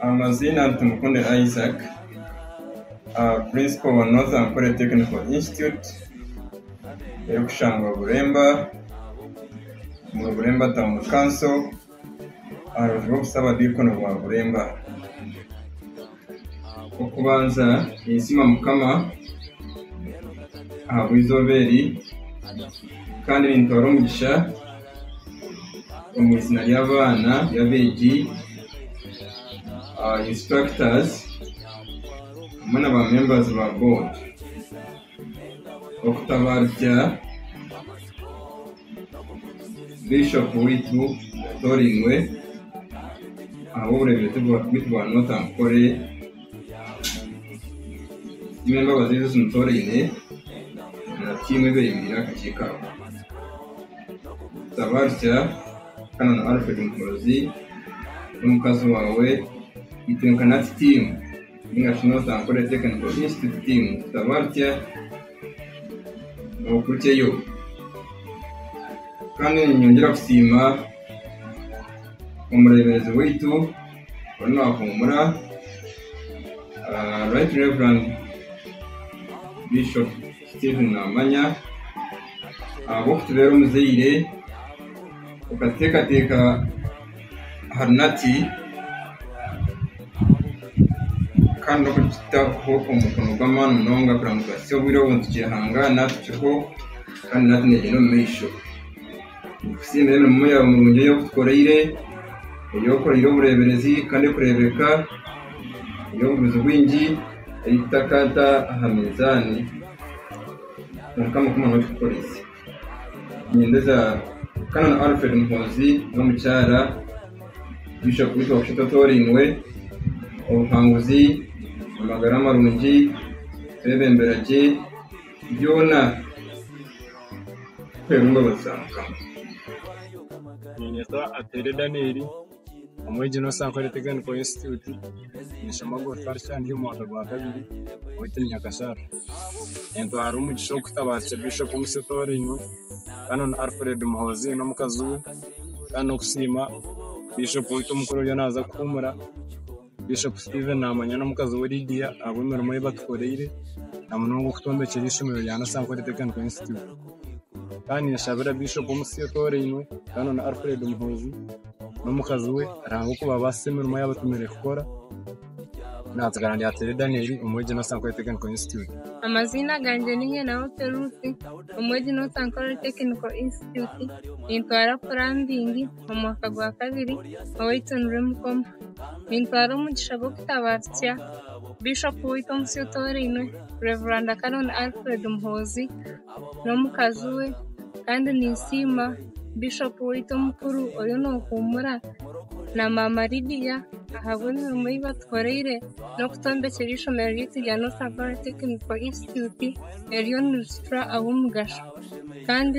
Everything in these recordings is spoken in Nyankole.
Amaziina ni Tumukunde Isaac, Principal wa North Ankole Technical Institute erikushangwa Buremba, omuri Buremba Town Council aha rubaju rw'obusabadiikoni bwa Buremba. Ow'okubanza ninsiima Mukama ahabw'eizooba eri kandi nintwara omugisha. Omu izina ry'abaana ry'abeegi, aba instructors hamwe na ba members ba board okutabarutsya Bishop waitu atoorainwe ahabw'oburemeezi bwaitu bwa Northern Nkore twine embabazi ezi zimutooraine na tiimu ebeereire aha kakiiko aka. Ntabarukya Canon Alfred Muhoozi n'omukazi waawe Itwenkanati Team nainga shi North Ankole Technical Institute Team tutabarukya okurukyeyo kandi ninyongera kusiima omureeberezi waitu oru naahuumura ah, Right Reverend Bishop Steven Namanya, Ahabw'okutubera omuzaire, okatuteekateeka aha runati kandi n'okututaho omukono gw'amaani munonga kugira ngu tubaasise obwire obwo nitukyehangaana tukyeho kandi naawe nitugyenda omu maisho. Nitukusiima emirimo yaawe mirungi ei otukoreire, ei okoreire obureeberezi kandi erikureebeka eri obuguzi bwingi ei tutakata aha minzaani. Kwonka Mukama nooba okitukorese. Ninyeendeza Canon Alfred Muhoozi n'omukyara Bishop Ritwa Kishito Toorainwe, obuhanguzi, amagara marungi, kwebembera gye. Byona kuheebwa embabazi za Mukama. Niinyeta Atere Daniel, omwegyina omu Sankore Technical Institute, ninshoma Agriculture ndi omu mwaka gwa kabiri owaitu ni Nyakasharara. Nintwara omugisha ogu kutabaasire Bishop Musa Etooringo kandi na Alfred Muhoozi n'omukazi we kandi n'okusiima Bishop waitu omukuru oriyo naaza kuhuumura. Bishop Steven naamanya n'omukazi we Lydia ahabw'emirimo ei batukoreire na munonga okutwombekyera eishomero rya Nasankore Technical Institute. Ka ninshabira Bishop Omusyo Otorainwe, Canon Alfred Muhoozi n'omukazi we Ruhanga okubabaasisa emirimo ei abatumiire kukora. Naatsigara ndi Atere Daniel, omwegi Nasankore Technical Institute. Amaziina gangye ni Nyenahope Ruth, omwegi Nasankore Technical Institute. Nintwara Plumbing. omu mwaka gwa kabiri ow'eitunura emikono. Nintwara omugisha gw'okutaba tutya Bishopu waitu omu si otoorainwe, Rev. Canon Alfred Muhoozi n'omukazi we. Kandi ninsiima Bishopu waitu omukuru oriyo noohuumura na Maama Lydia ahabw'emirimo ei batukoreire n'okutwombekyera eishomero ryaitu erya North Abara Technical Institute eririyo niritutura ab'omugasho. Kandi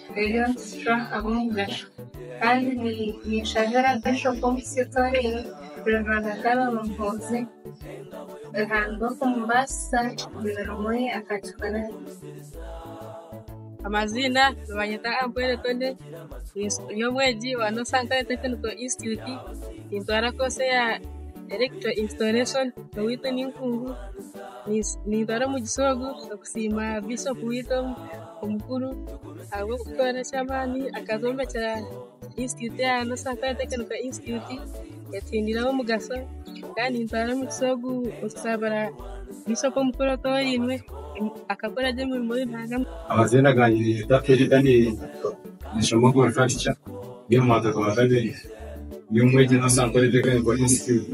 Ebyo nikitucwa ahabw'omugasho kandi ninshabira Bishop w'omukisa etorero rya Rwanda Canon Muhoozi Ruhanga okumubaasisa omurimo oyi akagikora gye. Amaziina nibanyeta Ampwere Tony, ndi omwegi wa Nosankare Tekiniko Institute, nintwara koosi eya Electro Installation, owaitu ninkungu, nintwara omugisha ogu okusiima Bishop waitu omu. Omukuru ahabw'okukora eky'amaani akazombekyera Institute ya Sankara Tekiniko Institute etsindiire ab'omugasho kandi nitwara omugisa ogu kusaabira Bishop Omukuru Otooriinwe akakora gye emirimo omu ihanga. Amaziina gangye ninyetwa Teddy Daniel nishoma agriculture ndi omu mwaka gwa kabiri ndi omwegi omu Sankore Tekiniko Institute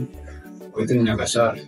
beitu ni Nyakashaara.